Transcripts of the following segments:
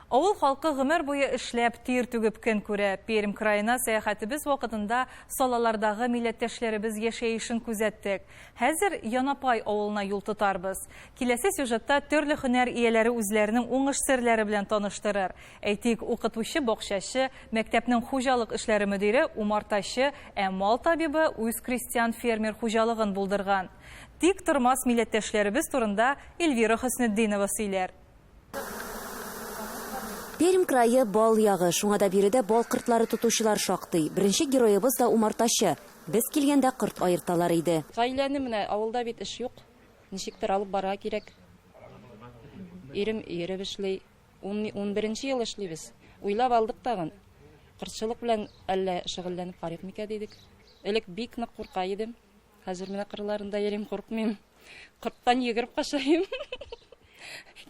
Авыл халкы гомер буе эшләп, тир түгеп көн күрә. Пермь краена сәяхәтебез вакытында Салалардагы милләттәшләребез яшәешен күзәттек. Хәзер Янапай авылына юл тотарбыз. Киләсе сюжетта төрле һөнәр ияләре үзләренең уңыш серләре белән таныштырыр. Әйтик, укытучы-бакчачы, мәктәпнең хуҗалык эшләре мөдире, умартачы, ә мал табибы үз крестьян-фермер хуҗалыгын булдырган. Тик тормас милләттәшләребез турында Эльвира Хөснетдинова сөйләр. Пермь крае, бал ягы, шуңа да биредә бал кортлары тотучылар шактый. Беренче героебыз да умартачы. Без килгәндә корт аерталар иде. Гаиләне менә, авылда бит эш юк, ничектер алып барырга кирәк. Ирем йөреп эшли. Унберенче ел эшлибез. Уйлап алдык тагын, кортчылык белән әллә шөгыльләнеп карыйк микән дидек. Элек бик нык курка идем. Хәзер менә кырларында йөрим, куркмыйм. Корттан йөгереп качайым.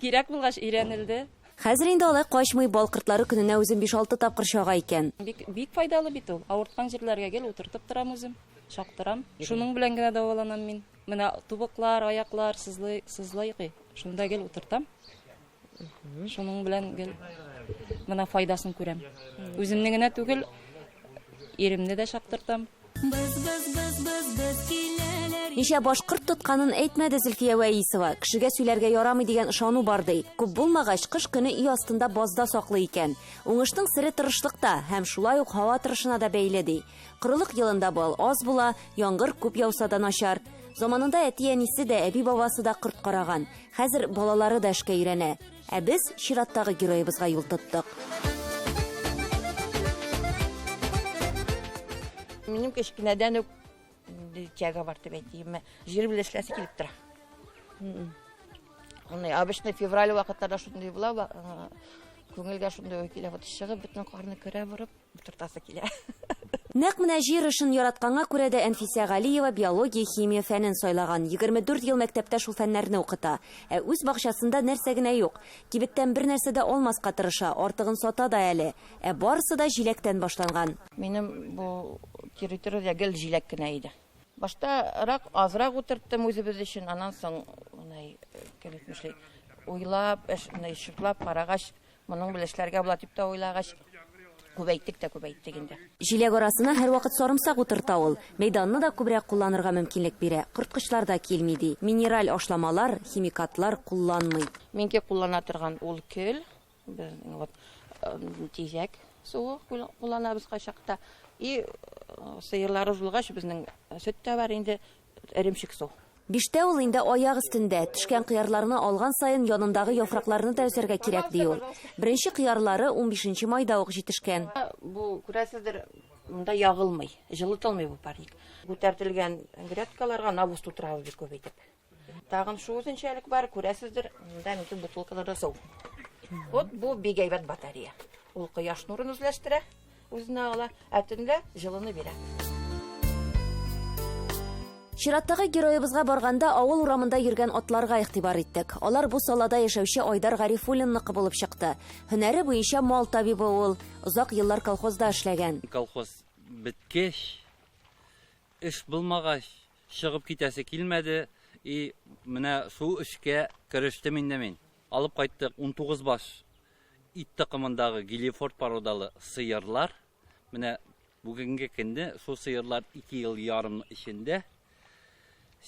Кирәк булгач өйрәнелде. Хәзер инде алай качмый, бал кортлары көненә үзен биш-алты тапкыр чага икән. Бик, бик файдалы бит ул. Авырткан җирләргә гел утыртып торам үзем, чактырам. Шуның белән генә дәваланам мин. Менә тубыклар, аяклар сызлый, сызлый ки, шунда гел утыртам. Шуның белән гел мына файдасын күрәм. Үземне генә түгел, иремне дә чаптыртам. Без, без, без, без, без киләләр. Ничә башкорт тотканын әйтмәде Зөлфия Вәисова. Кешегә сөйләргә ярамый дигән ышану бар ди. Күп булмагач, кыш көне өй астында базда саклый икән. Уңышның сере тырышлыкта һәм шулай ук һава торышына да бәйле ди. Корылык елында бал аз була, яңгыр күп яуса да начар. Заманында әти-әнисе дә, әби-бабасы да корт караган. Хәзер балалары да эшкә өйрәнә. Ә без чираттагы героебызга юл тоттык. Минем кечкенәдән үк тяга бар дип әйтимме. Җир белән эшләсе килеп тора. Аны обычно февраль вакытларда шундый була, күңелгә шундый уй килә, вот чыгып бөтен карны көрә борып. Утыртасы килә. Нәкъ менә җир эшен яратканга күрә дә Әнфисә Галиева биология, химия фәнен сайлаган. 24 ел мәктәптә шул фәннәрне укыта. Ә үз бакчасында нәрсә генә юк. Кибеттән бер нәрсә дә алмаска тырыша, артыгын сата да әле. Ә барысы да җиләктән башланган. Минем бу территориядә гел җиләк кенә иде. Баштарак азрак утырттым үзебез өчен, аннан соң, менә кем әйтмешли, уйлап, шуртлап карагач, Моның белән эшләргә була дип тә уйлагач, күбәйттек тә күбәйттек инде. Җиләк арасына һәрвакыт сарымсак утырта ул. Мәйданны да күбрәк кулланырга мөмкинлек бирә. Корткычлар да килми, ди. Минераль ашламалар, химикатлар кулланмый. Минеке куллана торган ул көл, вот тизәк суы кулланабыз кайчакта. И сыерларыбыз булгач, безнең сөт тә бар инде, эремчек су. Биштә ул инде аяк өстендә, төшкән кыярларны алган саен янындагы яфракларны да өзәргә кирәк, ди ул. Беренче кыярлары унбишенче майда ук җитешкән. Бу, күрәсездер, монда ягылмый, җылытылмый бу парник. Күтәртелгән грядкаларга навоз тутырабыз бик күп итеп. Тагын шул үзенчәлек бар, күрәсездер, монда минем бутылкаларда су. Вот бу бик әйбәт батарея. Ул кояш нурын үзләштерә. Үзенә ала, ә төнлә җылыны бирә. Чираттагы героебызга барганда авыл урамында йөргән атларга игътибар иттек. Алар бу салада яшәүче Айдар Гарифуллинныкы булып чыкты. Һөнәре буенча мал табибы ул. Озак еллар колхозда эшләгән. Колхоз беткәч, эш булмагач, чыгып китәсе килмәде. И менә шул эшкә керештем инде мин. Алып кайттык 19 баш Ит токымындагы гилифорд породалы сыерлар, менә бүгенге көнне шул сыерлар ике ел ярым эчендә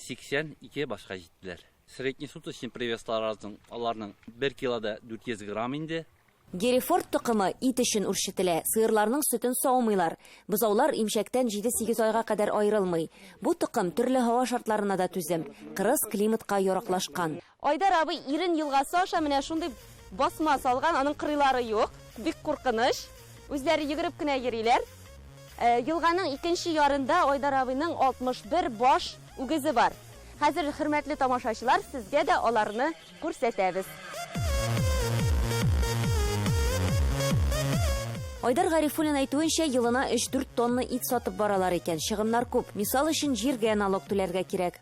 82 башка җиттеләр. Среднесуточный привеслар аларның 1 килода 400 грамм инде. Герефорд токымы ит өчен үрчетелә, сыерларның сөтен саумыйлар. Бозаулар имчәктән 7-8 айга кадәр аерылмый. Бу токым төрле һава шартларына да түзем, кырыс климатка яраклашкан. Айдар абый Ирен елгасы аша менә шундый басма салган, аның кырыйлары юк, бик куркыныч, үзләре йөгереп кенә йөриләр. Елганың икенче ярында Айдар абыйның 61 баш үгезе бар. Хәзер, хөрмәтле тамашачылар, сезгә дә аларны күрсәтәбез. Айдар Гарифуллин әйтүенчә, елына өч-дүрт тонна ит сатып баралар икән. Чыгымнар күп. Мисал өчен, җиргә налог түләргә кирәк.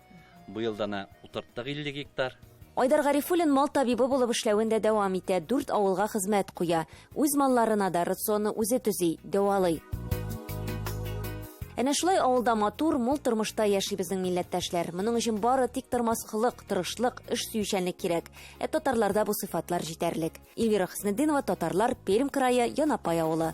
Быел дана утырттык 50 гектар. Айдар Гарифуллин мал табибы булып эшләвен дә дәвам итә, дүрт авылга хезмәт куя. Үз малларына да рационны үзе төзи, дәвалый. Әнә шулай авылда матур, мул тормышта яши безнең милләттәшләр. Моның өчен бары тик тормас холык, тырышлык, эш сөючәнлек кирәк. Ә татарларда бу сыйфатлар җитәрлек. Эльвира Хөснетдинова, Татарлар, Пермь крае, Янапай авылы.